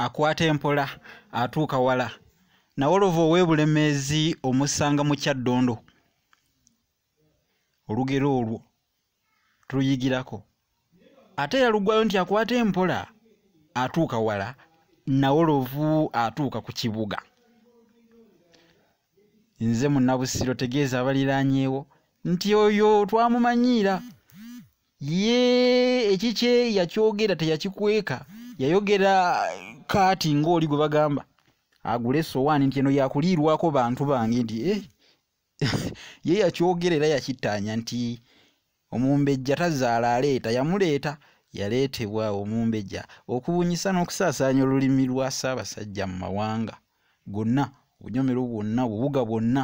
akwata empola atuuka wala nawolovu ow'ebulemeezi omusanga mu kyaddondo olugero olwo tuluyigirako ate yalugwayo nti akwata empola atuuka wala nawolovu atuuka ku kibuga nze munabusiro tegeeza abaliranyewo nti oyo twamumanyiira ye ekikye yakyogera teyakikweka yayogera kaati ng'oli gwe bagamba agula esowaani nti eno yakuliirwako bantu bange nti eh, ye yakyogera era yakittaanya nti omumbejja tazaala aleeta yamuleeta yaleetebwa omumbejja okubunyisa n'okusaasaanya olulimi lwa ssaabasajja mu mawanga gonna obunyomero bwonna obubuga bwonna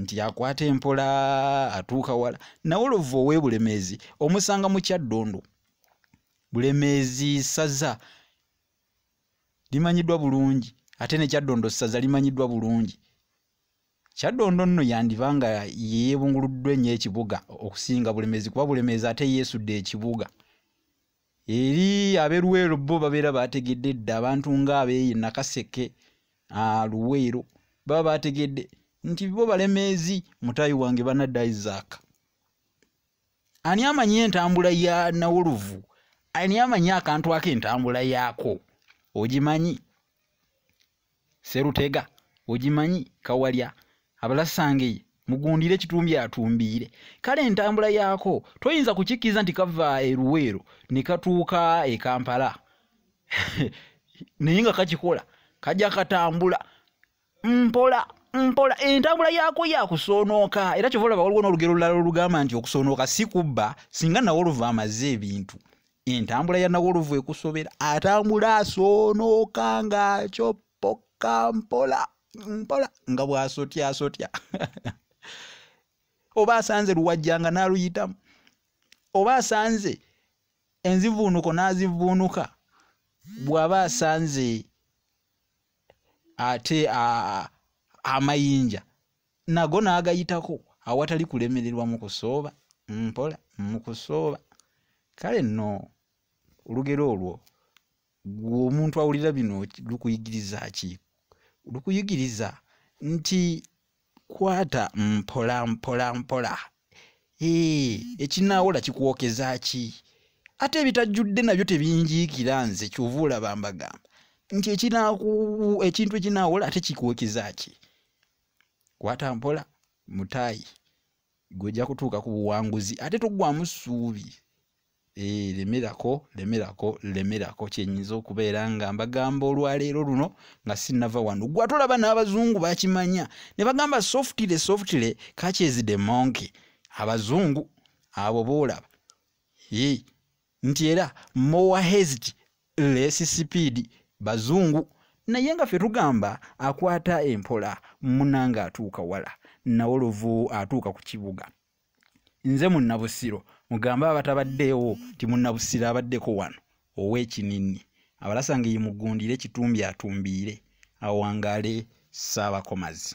nti akwata empola atuuka wala nawe olova owebulemeezi omusanga mu kyaddundu bulemeezi saza limanyiddwa bulungi ate ne kyaddondo saza limanyiddwa bulungi kyaddondo nno yandiba nga yeebunguluddwa ennyo ekibuga okusinga bulemeezi kuba bulemeezi ate yeesudde ekibuga eri ab'e luweero bo babeera baategedde dda abantu ng'abeeyi nakaseke luweero baba baategedde nti bo balemeezi mutayi wange banadda isaac ani amanyi entambula ya nawuluvu ani amanyi akantu ako entambula yaako ogimanyi serutega ogimanyi kawalya abalasangeye mugundire kitumbi atumbiire kale entambula yaako toyinza kukikkiriza nti kava eruweero ne katuuka e kampala naye nga kakikola kajja katambula mpola mpola entambula yaako yakusoonooka era kyova olaba waliwo n'olugero lulala olugamba nti okusoonooka si kubba singa nawe oluva amaze ebintu entambula ya nawolovu ekusobera atambula asoonooka ng'akyoppoka mpola mpola nga bw'asotyasotya oba asanze luwajjanga n'aluyitamu oba asanze enzivuunuko n'azivuunuka bw'aba asanze ate amayinja nago n'agayitako awatali kulemererwa mu kusooba mpola mu kusooba kale nno olugero olwo gwe omuntu awulira bino lukuyigiriza ki lukuyigiriza nti kwata mpola mpola mpola ee ekinaawola kikwokeza ki ate ebitajjudde nabyo tebinjiikira nze kyova olaba mbagamba nti ekintu ekinaawola ate kikwokeza ki kwata mpola mutaayi gwojja kutuuka ku buwanguzi ate tugwamu ssuubi eh, lemerako lemerako lemerako kyenyinza okubeera nga mbagamba olwaleero luno nga sinava wano gwa tolaba n'abazungu bakimanya ne bagamba softile softile kakyezide monke abazungu abo boolaba nti era more haste less speed bazungu naye nga ffe tugamba akwata empola munanga atuuka wala nawolovu atuuka ku kibuga nze munnabusiro mugambe abatabaddeewo nti munnabusiro abaddeko wano ow'ekinini abalasa nga yimugundire kitumbi atumbiire awangaale ssaabakomazi